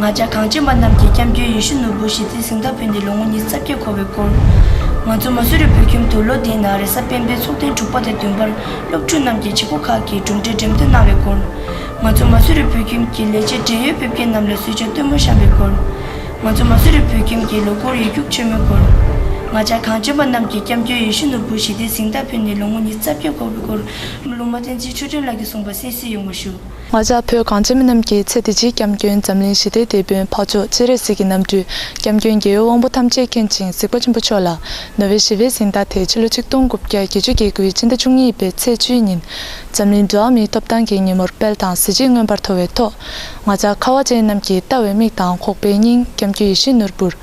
ང་ཅག་གངས་ཅན་པ་རྣམས་ཀྱིས་སྐྱབས་མགོན་ཡེ་ཤུ་ནོར་བུ་ཞེ་ཚིག་གཟེངས་རྟགས་ཕུལ་འདི་ལོ་ངོ་ཉིས་རྩ་བརྒྱད་འཁོར་བའི་སྐོར། ང་ཚོ་མ་སུ་རི་བོད་ཁྱིམ་དུ་ལོ་དེའི་ནང་རེ་ས་སྤེན་པའི་ཚོགས་ཐེངས་དྲུག་པ་དང་བདུན་པར་སློབ་ཕྲུག་རྣམས་ཀྱིས་བྱེད་སྒོ་ཁག་གི་གྲུབ་འབྲས་འགྲེམས་སྟོན་གནང་བའི་སྐོར། ང་ཚོ་མ་སུ་རི་བོད་ཁྱིམ་གྱི་ལས་བྱེད་བགྲེས་ཡོལ་ཕེབས་མཁན་རྣམས་ལ་སུས་བྱ་སྟོན་མོ་བཤམས་པའི་སྐོར། ང་ཚོ་མ་སུ་རི་བོད་ཁྱིམ་གྱི་ལོ་འཁོར་ཡིག་རྒྱུགས་ཆེན་མོའི་སྐོར། ང་ཅག་གངས་ཅན་པ་རྣམས་ཀྱིས་སྐྱབས་མགོན་ཡེ་ཤུ་ནོར་བུ་ཞེ་ཚིག་གཟེངས་རྟགས་ཕུལ་འདི་ལོ་ངོ་ཉིས་རྩ་བརྒྱད་འཁོར་བའི་སྐོར། ལུང་མ་བསྟན་འཛིན་ཆོས་སྒྲོན་ལགས་ཀྱིས་གསུངས་པ་གསན་བསུ་ཡོང་བ་ཞུ། ང་ཅག་བོད་གངས་ཅན་མི་རྣམས་ཀྱི་ཚེ་འདི་སྤྱིའི་སྐྱབས་མགོན་འཛམ་གླིང་ཞི་བདེའི་དེད་དཔོན་འཕགས་མཆོག་སྤྱན་རས་གཟིགས་ཀྱི་རྣམ་སྤྲུལ་སྐྱབས་མགོན་རྒྱལ་ཡུལ་དབང་པོ་ཐམས་ཅད་མཁྱེན་ཅིང་གཟིགས་པ་ཆེན་པོ་མཆོག་ལ་ནོ་བེལ་ཞི་བའི་གཟེངས་རྟགས་དེ་ཕྱི་ལོ་ཆིག་སྟོང་དགུ་བརྒྱ་བརྒྱད་ཅུ་གྱི་དགུའི་ཕྱི་ཟླ་བཅུ་གཉིས་པའི་ཚེས་བཅུའི་ཉིན་འཛམ་གླིང་འགྲོ་བ་མིའི་ཐོབ་ཐང་གི་ཉིན་མོར་དཔལ་དང་གཟི་བརྗིད་མངོན་པར་མཐོ་བའི་ཐོག་ང་ཅག་ཁ་བ་ཅན་རྣམས་ཀྱིས་ལྟ་བའི་མིག་དང་ཁོག་པའི་སྙིང་སྐྱབས་རྒྱུད་ཡེ་ཤེས་ནོར་བུར།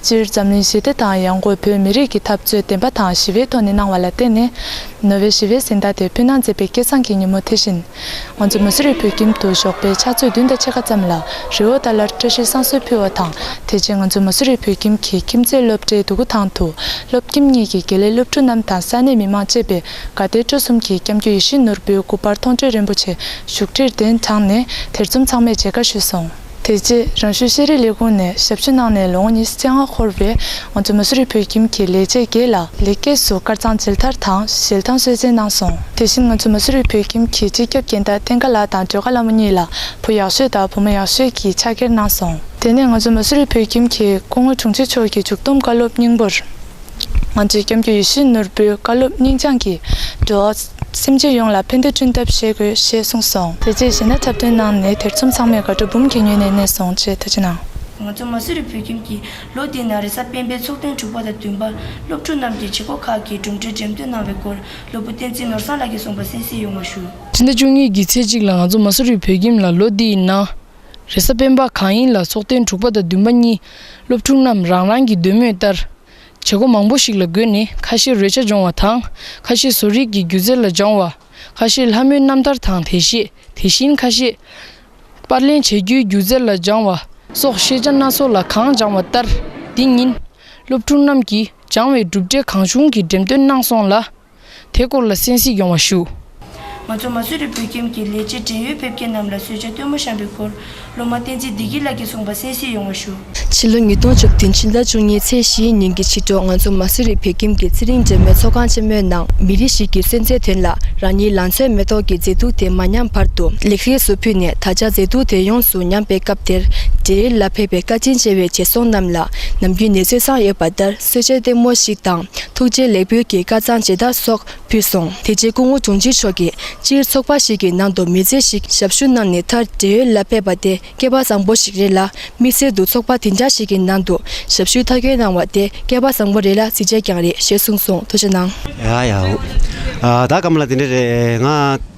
སྤྱིར་འཛམ་གླིང་ཞི་བདེ་དང་ཡང་སྒོས་བོད་མི་རིགས་ཀྱི་འཐབ་རྩོད་བདེན་པ་དང་ཞི་བའི་ཐོག་ནས་གནང་བ་ལ་བརྟེན་ནས་ནོ་བེལ་ཞི་བའི་གཟེངས་རྟགས་དེ་ཕུལ་གནང་མཛད་པའི་སྐལ་བཟང་གི་ཉིན་མོ་དེ་བཞིན། ང་ཚོ་མི་སུ་རེ་བོད་ཁྱིམ་དུ་ཞོགས་པའི་ཕྱག་ཚོད་བདུན་དང་ཕྱེད་ཀ་ཙམ་ལ་རི་བོ་དང་ལར་བཀྲ་ཤིས་བསང་གསོལ་ཕུལ་བ་དང་དེ་རྗེས་ང་ཚོ་མི་སུ་རེ་བོད་ཁྱིམ་གྱི་ཁྱིམ་མཚེས་སློབ་གྲྭའི་དུ་གུ་ཐང་དུ་སློབ་ཁྱིམ་གཉིས་ཀྱི་དགེ་ལས་སློབ་ཕྲུག་རྣམས་དང་ས་གནས་མི་མང་བཅས་པའི་དགའ་དད་སྤྲོ་གསུམ་གྱིས་སྐྱབས་འགྱུར་ཡིད་བཞིན་ནོར་བུའི་སྐུ་པར་མཐོང་གྲོལ་རིན་པོ་ཆེ་བཞུགས་ཁྲིར་གདན་དྲངས་ནས་དེར་འཛོམས་ཚང་མས་མཇལ་ཁ་ཞུས་སོང། དེ་རྗེས་རང་ཞུའི་ཤེས་རིག་ལས་ཁུངས་ནས་ཞབས་ཕྱི་གནང་ནས་ལོ་ངོ་ཉི་ཤུ་ཆ་ལྔ་འཁོར་བའི་ང་ཚོ་མ་སུ་རི་བོད་ཁྱིམ་གྱི་ལས་བྱེད་དགེ་ལ་ལེགས་སྐྱེས་སུ་དཀར་གཙང་མཇལ་དར་དང་ཞལ་ཐང་གསོལ་སྩལ་གནང་སོང། དེ་བཞིན་ང་ཚོ་མ་སུ་རི་བོད་ཁྱིམ་གྱི་སྤྱི་ཁྱབ་རྒན་བདག་བསྟན་དགའ་ལགས་དང་སྒྲོལ་དགའ་ལྷ་མོ་གཉིས་ལ་བུ་ཡག་ཤོས་དང་བུ་མོ་ཡག་ཤོས་ཀྱི་ཕྱག་འཁྱེར་གནང་སོང། དེ་ནས་ང་ཚོ་མ་སུ་རི་བོད་ཁྱིམ་གྱི་སྐུ་ངོ་དྲུང་ཆེ་མཆོག་གིས་མཇུག་བསྡོམས་བཀའ་སློབ་སྙིང་པོར། ང་ཚོས་སྐྱབས་འགྱུར་ཡེ་ཤུའི་ནོར་བུའི་བཀའ་སློབ་སྙིང་བཅངས་ཀྱིས་འགྲོ་བ་སེམས་ཅན་ཡོངས་ལ་ཕན་བདེ་བསྐྲུན་ཐབས་བྱེད་དགོས་ཞེས་གསུངས་སོང། དེ་རྗེས་གཞས་སྣ་འཁྲབ་སྟོན་གནང་ནས་དེར་ཚོམས་ཚང་མས་དགའ་སྤྲོ་འབུམ་གྱིས་མྱོས་ནས་གནས་སོང་ཅེས་ཐུགས་རྗེ་གནང། ང་ཚོ་མ་སི་རི་བོད་ཁྱིམ་གྱིས་ལོ་དེའི་ནང་རེས་གཟའ་སྤེན་པའི་ཚོགས་ཐུན་དྲུག་པ་དང་བདུན་པ་སློབ་ཕྲུག་རྣམས་ཀྱིས་བྱེད་སྒོ་ཁག་གི་གྲུབ་འབྲས་འགྲེམས་སྟོན་གནང་བའི་སྐོར་སློབ་བུ་བསྟན་འཛིན་ནོར་བཟང་ལགས་ཀྱིས་གསུངས་པ་གསན་གཟིགས་ཡོང་བ་ཞུ། ཕྱི་ཟླ་བཅུ་གཉིས་ཀྱི་ཚེས་གཅིག་ལ་ང་ཚོ་མ་སི་རི་བོད་ཁྱིམ་ལ་ལོ་དེའི་ནང་རེ་ས་སྤེན་པ་གང་ཡིན་ལ་ཚོགས་ཐེངས་དྲུག་པ་དང་བདུན་པ་གཉིས་སློབ་ཕྲུག་རྣམས་རང་རང་གི་འདོད་མོས་ལྟར། བྱེད་སྒོ་མང་པོ་ཞིག་ལ་བགོས་ནས་ཁ་ཤས་རོལ་ཆ་སྦྱོང་བ་དང་ཁ་ཤས་བཟོ་རིག་གི་སྒྱུ་རྩལ་ལ་སྦྱང་བ། ཁ་ཤས་ལྷ་མོའི་རྣམ་ཐར་དང་དེ་ཤེས་དེ་བཞིན་ཁ་ཤས། པར་ལེན་བྱེད་རྒྱུའི་སྒྱུ་རྩལ་ལ་སྦྱང་བ་སོགས་ཤེས་བྱ་སྣ་ཚོགས་ལ་གང་སྦྱང་བ་ལྟར། འདི་ཉིན། སློབ་ཕྲུག་རྣམས་ཀྱིས་སྦྱང་བའི་གྲུབ་འབྲས་གང་བྱུང་གི་འགྲེམས་སྟོན་གནང་སོང་ལ། དེ་སྐོར་ལ་གསན་གཟིགས་ཡོང་བ་ཞུ། ང་ཚོ་མ་སུ་རི་བོད་ཁྱིམ་གྱི་ལས་བྱེད་བགྲེས་ཡོལ་ཕེབས་མཁན་རྣམས་ལ་གསོལ་ཇ་སྟོན་མོ་བཤམས་པའི་སྐོར་སློབ་མ་བསྟན་འཛིན་བདེ་སྐྱིད་ལགས་ཀྱིས་གསུངས་པ་གསན་གཟིགས་ཡོང་བ་ཞུ། ཕྱི་ལོ་ཉིས་སྟོང་བཅུ་བདུན་ཕྱི་ཟླ་བཅུ་གཉིས་ཚེས་བཞིའི་ཉིན་གྱི་ཕྱི་དྲོ་ང་ཚོ་མ་སུ་རི་བོད་ཁྱིམ་གྱི་ཚེ་རིང་འབྲེལ་མོལ་ཚོགས་ཁང་ཆེན་མོའི་ནང་མི་རིགས་ཤིག་གི་གསོན་རྩའི་དོན་ལ་རང་ཉིད་ལང་ཚོའི་མེ་ཏོག་གི་མཛེས་སྡུག་དེ་མ་ཉམས་བར་དུ་ལེགས་རེས་སུ་ཕུལ་ནས་ད་ཆ་མཛེས་སྡུག་དེ་ཡོངས་སུ་ཉམས་པའི་སྐབས་དེར་བགྲེས་ཡོལ་ལ་ཕེབས་པའི་བཀའ་དྲིན་ཆེ་བའི་བྱེད་སོང་རྣམས་ལ་ནམ་རྒྱུན་ནད་གསོས་ཚང་ཡོད་པ་ལྟར། གསོལ་ཇའི་སྟེང་མོ་ཞིག་དང་ཐུགས་རྗེ་ལེགས་འབུལ་གྱི་སྐར་ཚང་བྱེ་བདག་སོགས་ཕུལ་སོང། དེ་རྗེས་སྐུ་ངོ་འབྱུང་གཅིག་མཆོག་གིས་སྤྱིར་ཚོགས་པ་ཞིག་གི་ནང་དུ་མི་ཚེ་ཞིག་ཞབས་ཞུ་གནང་ནས་མཐར་བགྲེས་ཡོལ་ལ་ཕེབས་པ་དེ་སྐལ་པ་བཟང་པོ་ཞིག་རེད་ལ་དམིགས་བསལ་དུ་ཚོགས་པ་དེ་འདྲ་ཞིག་གི་ནང་དུ་ཞབས་ཞུའི་མཐའ་འཁྱོལ་གནང་བ་དེ་སྐལ་པ་བཟང་པོ་རེད་ལ་གཟི་བརྗེད་ཀྱང་རེད་ཞེས་གསུངས་སོང་ཐུགས་ཆེ་གནང། ཡ་ཡ་འོ། ད་སྐབས་ལ་དེ་འདྲ་རེད་ང།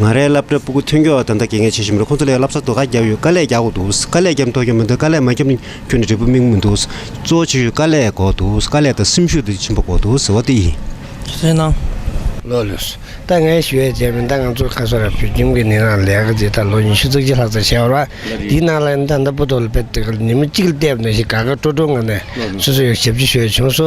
ང་རས་སླབ་གྲྭ་སྤུ་གུ་ཐོན་རྒྱུ་ད་ལྟ་གེ་ངས་བྱེད་བཞིན་མི་རེད་ཁོང་ཚོ་ལས་སླབ་གསར་དུ་ཁ་རྒྱབ་ཡོད་དཀའ་ལས་རྒྱག་དགོས་འདུག་དཀའ་ལས་རྒྱབ་མཐོ་གྱོན་མི་འདུག་དཀའ་ལས་མ་རྒྱབ་གྱོན་ནས་འབྲས་བུ་སྨིན་མི་འདུག་གཙོ་བོ་ཆེ་ཤོས་དཀའ་ལས་དགོས་འདུག་དཀའ་ལས་དང་སེམས་ཤུགས་དེ་ཆེན་པོ་དགོས་འདུག་ཟེར་བ་དེ་ཡིན། སུན་སྣང། ལོ་ལོས། ད་ངས་ཞུ་བའི་རྗེས་མི་འདང་ང་ཚོ་ཁ་སོ་ར་བོད་ཁྱིམ་གྱི་ནི་རང་ལས་ཀ་འདི་ད་ལོ་ཉི་ཤུ་རྩ་གཅིག་ལྷག་ཙམ་བྱས་བར་བ་འདིའི་ནང་ལ་ད་ལྟ་སྤུ་དོག་ལ་བེད་དེ་ག་ལ་ཉི་མ་གཅིག་ལ་བལྟས་བ་ནས་ཤིག་དགའ་དགའ་སྤྲོ་སྤྲོ་ངང་ནས་སོ་སོ་ཡོ་བྱད་བྱེད་ཤོས་བྱུང་སོ་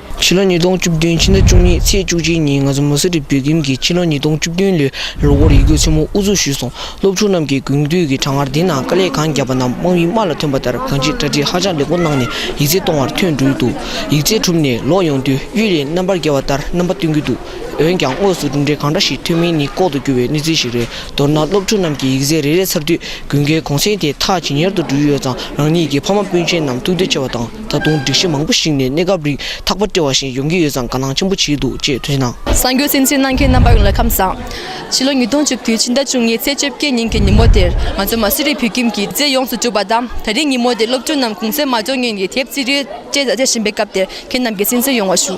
ཕྱི་ལོ་ཉིས་སྟོང་བཅུ་བདུན་ཕྱི་ཟླ་བཅུ་གཉིས་ཚེས་བཅུ་གཅིག་ཉིན་ང་ཚོ་མུ་སི་རི་བོད་ཁྱིམ་གྱིས་ཕྱི་ལོ་ཉིས་སྟོང་བཅུ་བདུན་ལོའི་ལོ་འཁོར་ཡིག་སྒྱུར་ཆེན་མོ་དབུ་འཛུགས་ཞུས་སོང་སློབ་ཕྲུག་རྣམས་ཀྱིས་དགུན་དུས་ཀྱི་གྲང་ངར་འདི་ནང་དཀའ་ལས་གང་བརྒྱབ་པ་རྣམས་དམག་མིའི་དམག་ལ་ཐོན་པ་ལྟར་གང་ཅིར་གྲ་སྒྲིག་ཧ་ཅང་ལེགས་པོ་གནང་ནས་ཡིག་རྩལ་གཏོང་བར་ཐོན་འགྲོའི་འདུག་ཡིག་རྩལ་གྲུབ་ནས་ལོག་ཡོང་དུས་གཡུལ་ལས་རྣམ་པར་རྒྱལ་བ་ལྟར་རྣམ་པ་སྟོན་གྱི་འདུག་འོན་ཀྱང་དངོས་སུ་གྲུབ་འབྲས་གང་འདྲ་ཞིག་ཐོན་མིན་ནི་ལྐོག་ཏུ་གྱུར་བའི་གནས་ཚུལ་ཞིག་རེད་མདོར་ན་སློབ་ཕྲུག་རྣམས་ཀྱིས་ཡིག་རྩལ་རེ་རེ་ཚར་དུས་དགུན་ཁའི་གུང་གསེང་དེ་ཐག་ཇེ་ཉེར་དུ་འགྲོ་ཡི་ཡོད་ཙང་རང་ཉིད་ཀྱི་ཕ་མ་སྤུན་མཆེད་རྣམས་ཐུགས་བདེ་ཆེ་བ་དང། ད་དུང་སྒྲིག་གཞི་མང་པོ་ཞིག་ནས་གནས་སྐབས་རིགས་ཐག་པ་བཀྲལ་བ་བཞིན་ཡོང་གི་ཡོད་ཙང་དགའ་སྣང་ཆེན་པོ་བྱས་འདུག་ཅེས་ཐུགས་ཞིབ་གནང། གསར་འགྱུར་སེམས་ཅན་གནང་མཁན་རྣམ་པ་ཡོངས་ལ་ཁམས་བཟང། ཕྱི་ལོ་ཉིས་སྟོང་བཅུ་དགུའི་ཕྱི་ཟླ་བཅུ་གཉིས་ཚེས་བཅོ་བརྒྱད་ཉིན་གྱི་ཉིན་མོ་དེར་ང་ཚོ་མ་སི་རི་བོད་ཁྱིམ་གྱི་རྩེ་ཡོངས་སུ་གྲུབ་པ་དང་ད་རེས་ཉིན་མོ་དེར་སློབ་ཕྲུག་རྣམས་གུང་སེང་མ་འབྱོར་ངན་གྱི་དེབ་རྩིས་རིས་བཅད་བཟའ་བཅད་བྱེད་པའི་སྐབས་དེར་ཁྱེད་རྣམས་ཀྱི་སེམས་གསོ་ཡོང་བ་ཞུ།